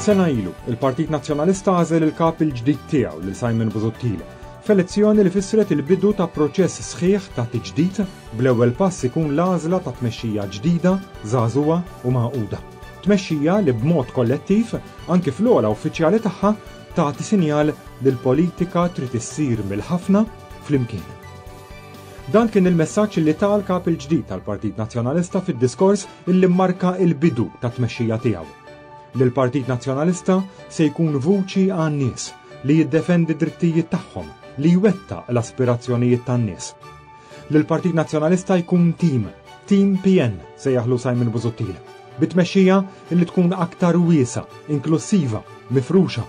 Sena ilu, il-Partit Nazzjonalista għażel il-kap il-ġdid tiegħu lil Simon Busuttil f'elezzjoni li fissret il-bidu ta' proċess sħiħ ta' tiġdid bl-ewwel pass ikun l-għażla ta' tmexxija ġdida, żagħżugħa u magħquda. Tmexxija li b'mod kollettiv, anki fl-ogħla uffiċjali tagħha, tagħti sinjal li l-politika trid issir mill-ħafna flimkien. Dan kien il-messaġġ li ta l-Kap il-ġdid tal-Partit Nazzjonalista fid-diskors li mmarka l-bidu tat-tmexxija tiegħu. Li l-Partit Nazzjonalista se jkun vuċi għan-nies, li jiddefendi d-drittijiet tagħhom, li jwettaq l-aspirazzjonijiet tan-nies. Li l-Partit Nazzjonalista jkun tim, tim PN, sejjaħlu Simon Busuttil, bi tmexxija li tkun aktar wiesgħa, inklussiva, mifruxa.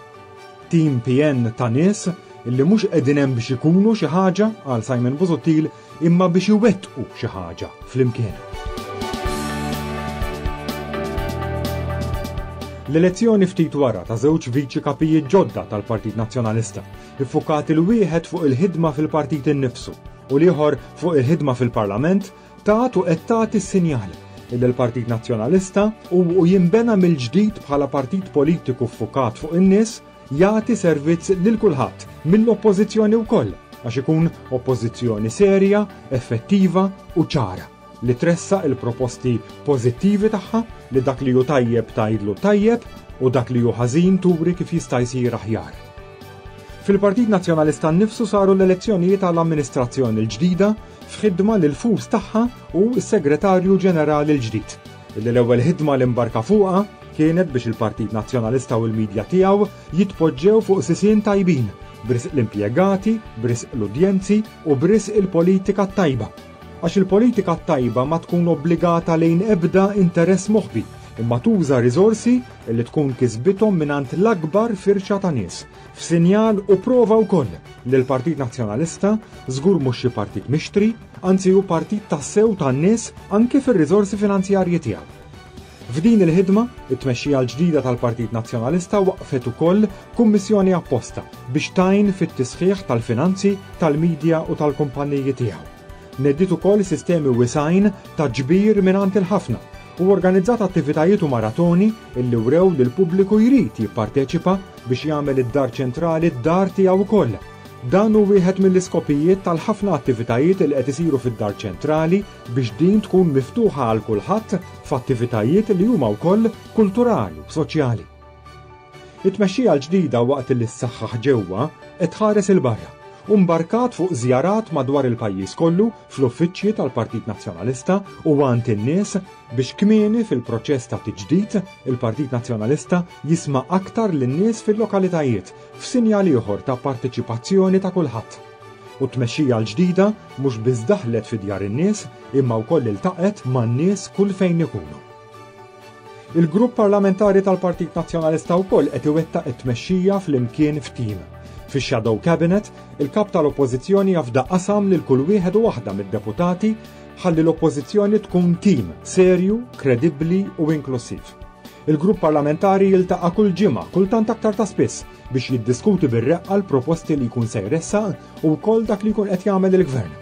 Tim pien ta' nies li mhux qegħdin hemm biex ikunu xi ħaġa għal Simon Busuttil imma biex iwettqu xi ħaġa flimkien. L-elezzjoni ftit wara ta' żewġ viċi kapijiet ġodda tal-Partit Nazzjonalista, iffukat il-wieħed fuq il-ħidma fil-partit innifsu u l-ieħor fuq il-ħidma fil-Parlament Tat u qed tagħti sinjal illi l-Partit Nazzjonalista, u u jinbena mill-ġdid bħala partit politiku ffukat fuq in-nies, jagħti servizz lil kulħadd, mill-Oppożizzjoni wkoll, għax ikun Oppożizzjoni serja, effettiva u ċara, li tressaq il-proposti pożittivi tagħha, li dak li hu tajjeb tgħidlu tajjeb u dak li hu ħażin turi kif jista' jsir aħjar. Fil-Partit Nazzjonalista nnifsu saru l-elezzjonijiet għal amministrazzjoni l-ġdida f'ħidma li l-fus tagħha hu s-Segretarju Ġenerali l-ġdid, illi l-ewwel ħidma li mbarka fuqha kienet biex il-Partit Nazzjonalista u l-midja tiegħu jitpoġġew fuq sisien tajbin, b'risq l-impjegati, b'risq l-udjenzi u b'risq il-politika t-tajba. Għax il-politika t-tajba ma tkun obbligata lejn ebda interess moħbi, imma tuża riżorsi illi tkun kisbithom mingħand l-akbar firxa ta' nies, F'sinjal u prova wkoll li l-Partit Nazzjonalista żgur mhux xi partit mixtri, anzi hu partit tassew tan-nies anki fir-riżorsi finanzjarji tiegħu. F'din il-ħidma, it-tmexxija l-ġdida tal-Partit Nazzjonalista waqqfet ukoll kummissjoni apposta biex tgħin fit-tisħiħ tal-finanzi tal-midja u tal-kumpanniji tiegħu. Nediet ukoll sistemi wiesgħin ta' ġbir mingħand il-ħafna u organizzat attivitajiet u maratoni li wrew li l-pubbliku jrid jipparteċipa biex jagħmel id-Dar Ċentrali d-dar tiegħu wkoll. Dan hu wieħed mill-iskopijiet tal-ħafna attivitajiet li qed isiru fid-Dar Ċentrali biex din tkun miftuħa għal kulħadd f'attivitajiet li huma wkoll kulturali u soċjali. It-tmexxija l-ġdida waqt li ssaħħaħ ġewwa qed tħares 'il barra u mbarkat fuq żjarat madwar il-pajjiż kollu fl-uffiċċji tal-Partit Nazzjonalista u għand in-nies Biex kmieni fil-proċess ta' tiġdid, il-Partit Nazzjonalista jisma' aktar lin-nies fil-lokalitajiet f'sinjal ieħor ta' parteċipazzjoni ta' kulħadd. U t-tmexxija l-ġdida mhux biss daħlet fi djar in-nies imma wkoll iltaqgħet man-nies kull fejn ikunu. Il-Grupp Parlamentari tal-Partit Nazzjonalista wkoll qed iwettaq it-tmexxija flimkien f'tim. Fix-Shadow Cabinet, il-Kap tal-Oppożizzjoni afda qasam lil kull wieħed u waħda mid-deputati ħalli l-Oppożizzjoni tkun tim serju, kredibbli u inklussiv. Il-grupp parlamentari jiltaqa' kull ġimgħa, kultant aktar ta' spiss, biex jiddiskuti bir-reqqa l-proposti li jkun se jressaq u wkoll dak li jkun qed jagħmel il-Gvern.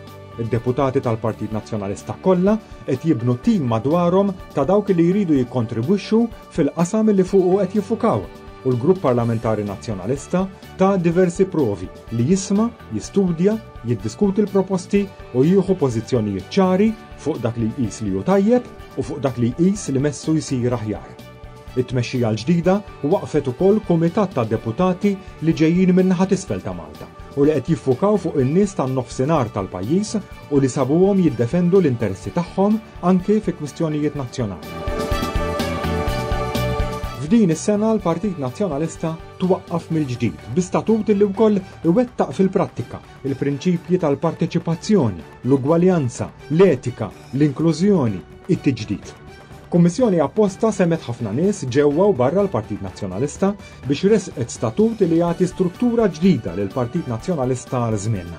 Id-deputati tal-Partit Nazzjonalista kollha qed jibnu tim madwarhom ta' dawk li jridu jikkontribwixxu fil-qasam li fuqu qed jiffukaw u l-Grupp Parlamentari Nazzjonalista ta' diversi provi li jisma', jistudja, jiddiskuti l-proposti u jieħu pożizzjonijiet ċari fuq dak li jqis li hu tajjeb u fuq dak li jqis li messu jsir aħjar. It-tmexxija l-ġdida waqqfet ukoll kumitat ta' deputati li ġejjin min-naħa t'isfel ta' Malta u li qed jiffukaw fuq in-nies tan-Nofsinhar tal-pajjiż u li sabuhom jiddefendu l-interessi tagħhom anki fi kwistjonijiet nazzjonali. F'din is-sena l-Partit Nazzjonalista twaqqaf mill-ġdid bi statut li wkoll iwettaq fil-prattika l-prinċipji tal-parteċipazzjoni, l-ugwaljanza, l-etika, l-inklużjoni, it-tiġdid. Kummissjoni apposta semgħet ħafna nies ġewwa u barra l-Partit Nazzjonalista biex ressqet statut li jagħti struttura ġdida lill-Partit Nazzjonalista għal żmienna.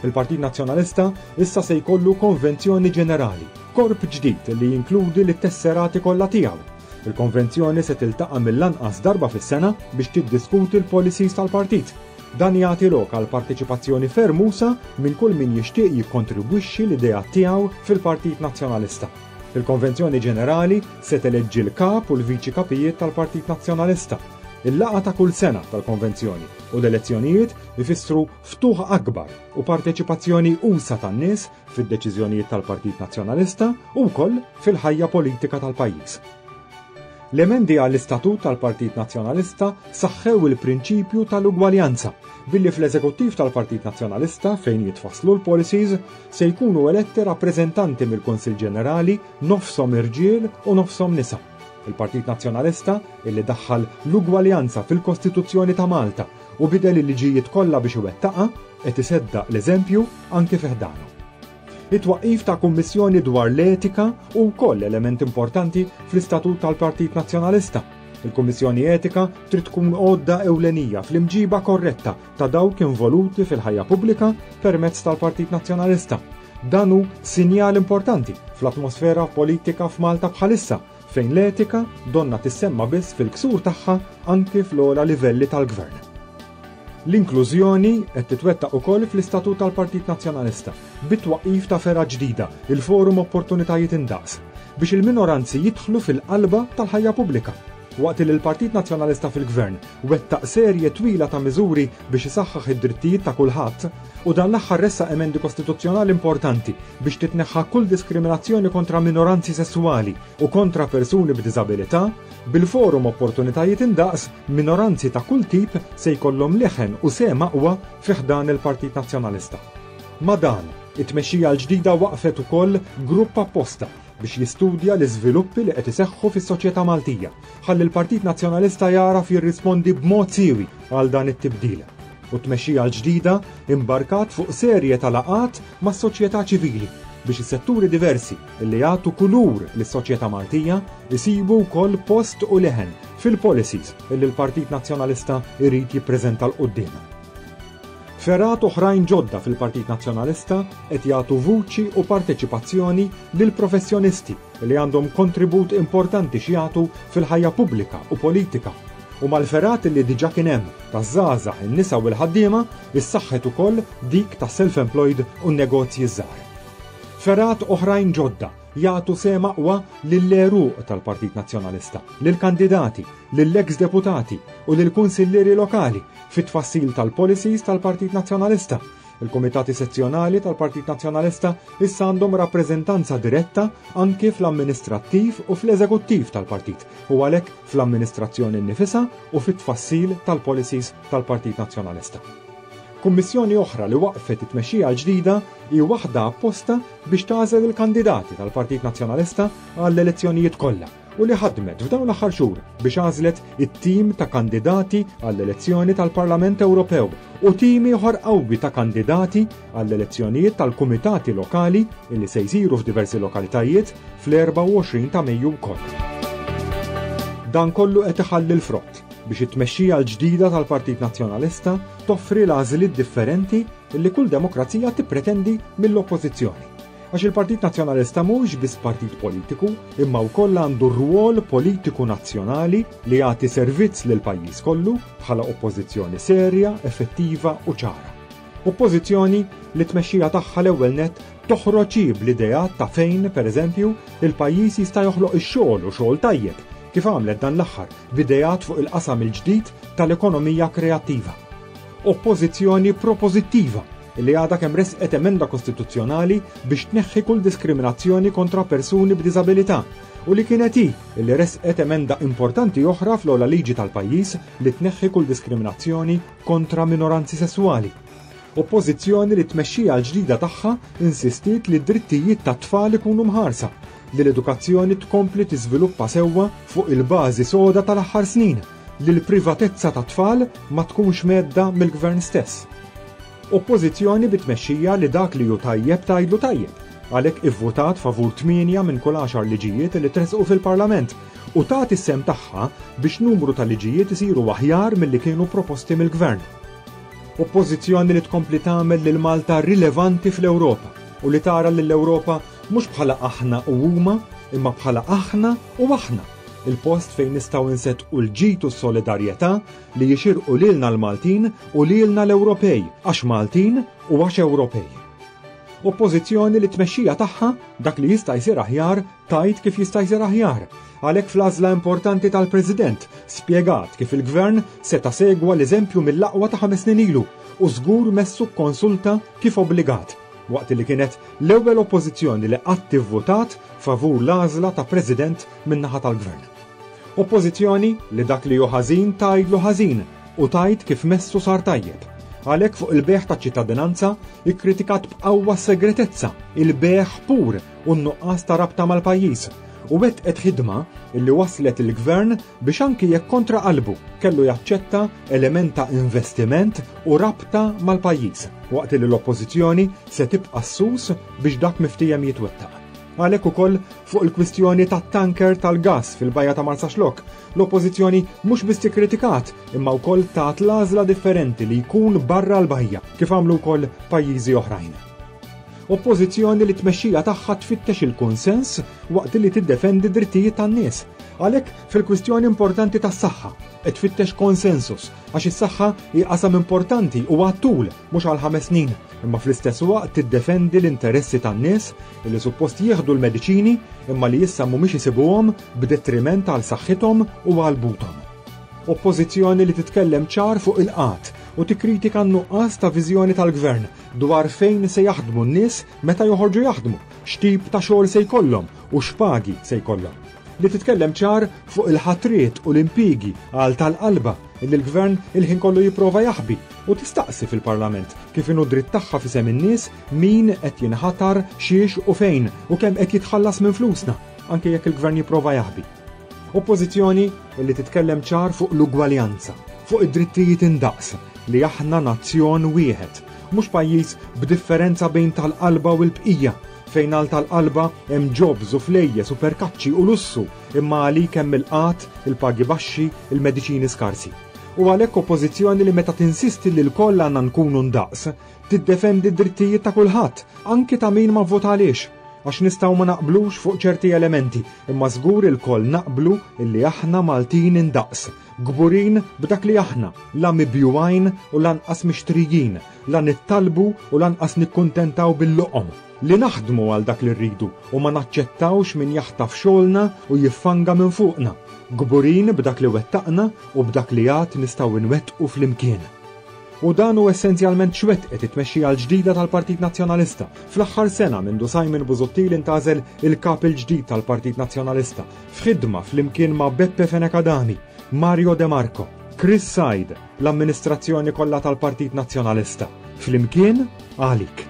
Il-Partit Nazzjonalista issa se jkollu konvenzjoni ġenerali, korp ġdid li jinkludi lit-tesserati kollha tiegħu, Il-Konvenzjoni se tiltaqa' mill-anqas darba fis-sena biex tiddiskuti l-policies tal-Partit. Dan jagħti lok għal parteċipazzjoni ferm usa' minn kull min jixtieq jikkontribwixxi l-ideat tiegħu fil-Partit Nazzjonalista. Il-Konvenzjoni Ġenerali se teleġġi l-Kap u l-Viċi Kapijiet tal-Partit Nazzjonalista. Il-laqgħa ta' kull sena tal-Konvenzjoni u l-elezzjonijiet ifissru ftuħ akbar u parteċipazzjoni usa' tan-nies fid-deċiżjonijiet tal-Partit Nazzjonalista u wkoll fil-ħajja politika tal-pajjiż. L-emendi għall-Istatut tal-Partit Nazzjonalista saħħew il-prinċipju tal-ugwaljanza billi fl-Eżekuttiv tal-Partit Nazzjonalista fejn jitfasslu l-policies se jkunu eletti rappreżentanti mill-Kunsill Ġenerali nofshom irġiel u nofshom nisa. Il-Partit Nazzjonalista, illi daħħal l-ugwaljanza fil-Kostituzzjoni ta' Malta Hu bidel il-liġijiet kollha biex iwettaqha, qed iseddaq l-eżempju anki fi ħdanu. It-twaqqif ta' Kummissjoni dwar l-Etika hu wkoll element importanti fl-istatut tal-Partit Nazzjonalista. Il-Kummissjoni Etika trid tkun għodda ewlenija fl-imġiba korretta ta' dawk involuti fil-ħajja pubblika permezz tal-Partit Nazzjonalista. Dan hu sinjal importanti fl-atmosfera politika f'Malta bħalissa, fejn l-etika donnha tissemma biss fil-ksur tagħha anki fl-ogħla livelli tal-gvern. L-inklużjoni qed titwettaq ukoll fl-Istatut tal-Partit Nazzjonalista, bit-twaqqif ta' fergħa ġdida, il-Forum Opportunitajiet Indaqs, biex il-minoranzi jidħlu fil-qalba tal-ħajja pubblika. Waqt li l-Partit Nazzjonalista fil-Gvern wettaq serje twila ta' miżuri biex isaħħaħ id-drittijiet ta' kulħadd, u dan l-aħħar ressaq emendi kostituzzjonali importanti biex titneħħa kull diskriminazzjoni kontra minoranzi sesswali u kontra persuni b'diżabilità, bil-forum Opportunitajiet Indaqs, minoranzi ta' kull tip se jkollhom leħen u sehem aqwa fi ħdan il-Partit Nazzjonalista. Ma' dan, it-tmexxija l-ġdida waqqfet ukoll grupp apposta biex jistudja l-iżviluppi li qed iseħħu fis-soċjetà Maltija. Ħalli l-Partit Nazzjonalista jagħraf jirrispondi b'mod siewi għal dan it-tibdil u t-tmexxija l-ġdida imbarkat fuq serje ta' laqgħat mas-soċjetà ċivili biex is-setturi diversi li jagħtu kulur lis-soċjetà Maltija jsibu wkoll post u leħen fil-policies li l-Partit Nazzjonalista jrid jippreżenta 'l quddiem. Fergħat oħrajn ġodda fil-Partit Nazzjonalista qed jagħtu vuċi u parteċipazzjoni lil professjonisti li għandhom kontribut importanti x'jagħtu fil-ħajja pubblika u politika. U mal-fergħat li diġà kien hemm taż-żgħażagħ, in-nisa u l-ħaddiema, issaħħet ukoll dik tas-self-employed u n-negozji ż-żgħar. Fergħat oħrajn ġodda jagħtu sehem aqwa lill-għeruq tal-Partit Nazzjonalista, lill-kandidati, lill-eks deputati u lill-kunsillieri lokali fit-tfassil tal-policies tal-Partit Nazzjonalista. Il-kumitati sezzjonali tal-Partit Nazzjonalista issa għandhom rappreżentanza diretta anki fl-amministrattiv u fl-eżekuttiv tal-partit u għalhekk fl-amministrazzjoni nnifisha u fit-tfassil tal-policies tal-Partit Nazzjonalista. Kummissjoni oħra li waqqfet it-tmexxija l-ġdida hi waħda apposta biex tagħżel il-kandidati tal-Partit Nazzjonalista għall-elezzjonijiet kollha. u li ħadmet f'dawn l-aħħar xhur biex għażlet it-tim ta' kandidati għall-elezzjoni tal-Parlament Ewropew u tim ieħor qawwi ta' kandidati għall-elezzjonijiet tal-kumitati lokali li se jsiru f'diversi lokalitajiet fl-24 ta' Mejju wkoll. Dan kollu qed iħalli l-frott biex it-tmexxija l-ġdida tal-Partit Nazzjonalista toffri l-għażliet differenti li kull demokrazija tippretendi mill-Oppożizzjoni. Għax il-Partit Nazzjonalista mhux biss partit politiku, imma wkoll għandu rwol politiku nazzjonali li jagħti servizz lil pajjiż kollu bħala oppożizzjoni serja, effettiva u ċara. Oppożizzjoni li tmexxija tagħha l-ewwel net toħroġ bl-idea ta' fejn, pereżempju, il-pajjiż jista' joħloq ix-xogħol u xogħol tajjeb kif għamlet dan l-aħħar bidejat fuq il-qasam il-ġdid tal-ekonomija kreattiva. Oppożizzjoni propożittiva li għadha kemm ressqet emenda kostituzzjonali biex tneħħi kull diskriminazzjoni kontra persuni b'diżabilità u li kienet hi li ressqet emenda importanti oħra fl-ogħla liġi tal-pajjiż li tneħħi kull diskriminazzjoni kontra minoranzi sesswali. Oppożizzjoni li t-tmexxija l-ġdida tagħha insistiet li d-drittijiet tat-tfal ikunu mħarsa, li l-edukazzjoni tkompli tiżviluppa sewwa fuq il-bażi soda tal-aħħar snin, li l-privatezza tat-tfal ma tkunx mhedda mill-Gvern stess. Oppożizzjoni bi tmexxija li dak li hu tajjeb tgħidlu tajjeb, għalhekk ivvutat favur tmienja minn kull għaxar liġijiet li tressqu fil-Parlament u tagħti s-sehem tagħha biex numru ta' liġijiet isiru aħjar milli kienu proposti mill-Gvern. Oppożizzjoni li tkompli tagħmel lil Malta rilevanti fl-Ewropa u li tara lill-Ewropa mhux bħala aħna u huma imma bħala aħna u aħna. Il-post fejn nistgħu nseddqu l-ġid u s-solidarjetà li jixirqu lilna l-Maltin u lilna l-Ewropej għax Maltin u għax Ewropej. Oppożizzjoni li t-tmexxija tagħha, dak li jista' jsir aħjar, tgħid kif jista' jsir aħjar. Għalhekk fl-għażla importanti tal-President, spjegat kif il-Gvern seta' segwa l-eżempju mill-aqwa ta' ħames snin ilu u żgur messu kkonsulta kif obbligat. waqt li kienet l-ewwel Oppożizzjoni li qatt ivvutat favur l-għażla ta' President min-naħa tal-Gvern. Oppożizzjoni li dak li hu ħażin tgħidlu ħażin u tgħid kif messu sar tajjeb. Għalhekk fuq il-bejgħ taċ-ċittadinanza ikkritikat b'qawwa s-segretezza, il-bejgħ pur u n-nuqqas ta' rabta mal-pajjiż, u wettqet ħidma li wasslet lill-Gvern biex anki jekk kontra qalbu kellu jaċċetta element ta' investiment u rabta mal-pajjiż, waqt li l-Oppożizzjoni se tibqa' ssus biex dak miftiehem jitwettaq. Għalhekk ukoll fuq il-kwistjoni tat-tanker tal-gass fil-bajja ta' Marsaxlokk, l-Oppożizzjoni mhux biss ikkritikat imma wkoll tat l-għażla differenti li jkun barra l-bajja kif għamlu wkoll pajjiżi oħrajn. Oppożizzjoni li t-tmexxija tagħha tfittex il-kunsens waqt li tiddefendi d-drittijiet tan-nies. Għalhekk, fil-kwistjoni importanti tas-saħħa, qed tfittex konsensus għax is-saħħa hi qasam importanti u għat-tul mhux għal ħames snin, imma fl-istess waqt tiddefendi l-interessi tan-nies li suppost jieħdu l-mediċini imma li issa mhumiex isibuhom b'detriment għal saħħithom u għal buthom. Oppożizzjoni li titkellem ċar fuq il-qgħad u tikkritika n-nuqqas ta' viżjoni tal-Gvern dwar fejn se jaħdmu n-nies meta joħorġu jaħdmu, x'tip ta' xogħol se jkollhom u x'pagi se jkollhom. Li titkellem ċar fuq il-ħatriet u l-impjiegi għal tal-qalba li l-Gvern il-ħin kollu jipprova jaħbi u tistaqsi fil-Parlament kif inhu dritt tagħha f'isem in-nies min qed jinħatar, xiex u fejn u kemm qed jitħallas minn flusna anke jekk il-Gvern jipprova jaħbi. Oppożizzjoni li titkellem ċar fuq l-ugwaljanza, fuq id-drittijiet indaqs, li aħna nazzjon wieħed, mhux pajjiż b'differenza bejn tal-qalba u l-bqija, fejn għal tal-qalba hemm jobs u flejjes u perkaċċi u lussu imma għalik hemm il-qgħad, il-pagi baxxi, il-mediċini skarsi. U għalhekk oppożizzjoni li meta tinsisti li lkoll għandna nkunu ndaqs, tiddefendi d-drittijiet ta' kulħadd, anki ta' min ma vvota għaliex. Għax nistgħu ma naqblux fuq ċerti elementi, imma żgur ilkoll naqblu illi aħna Maltin indaqs, kburin b'dak li aħna, la mibjugħin u lanqas mixtrijin, la nittalbu u lanqas nikkuntentaw bil-loqom, li naħdmu għal dak li rridu u ma naċċettawx min jaħtaf xogħolna u jiffanga minn fuqna, kburin b'dak li wettaqna u b'dak li għad nistgħu nwettqu flimkien. U dan hu essenzjalment x'wettqet it-tmexxija l-ġdida tal-Partit Nazzjonalista. Fl-aħħar sena mindu Simon Busuttil intgħażel il-Kap il-ġdid tal-Partit Nazzjonalista, f'ħidma flimkien ma' Beppe Fenech Adami, Mario de Marco, Chris Said, l-amministrazzjoni kollha tal-Partit Nazzjonalista. Flimkien għalik.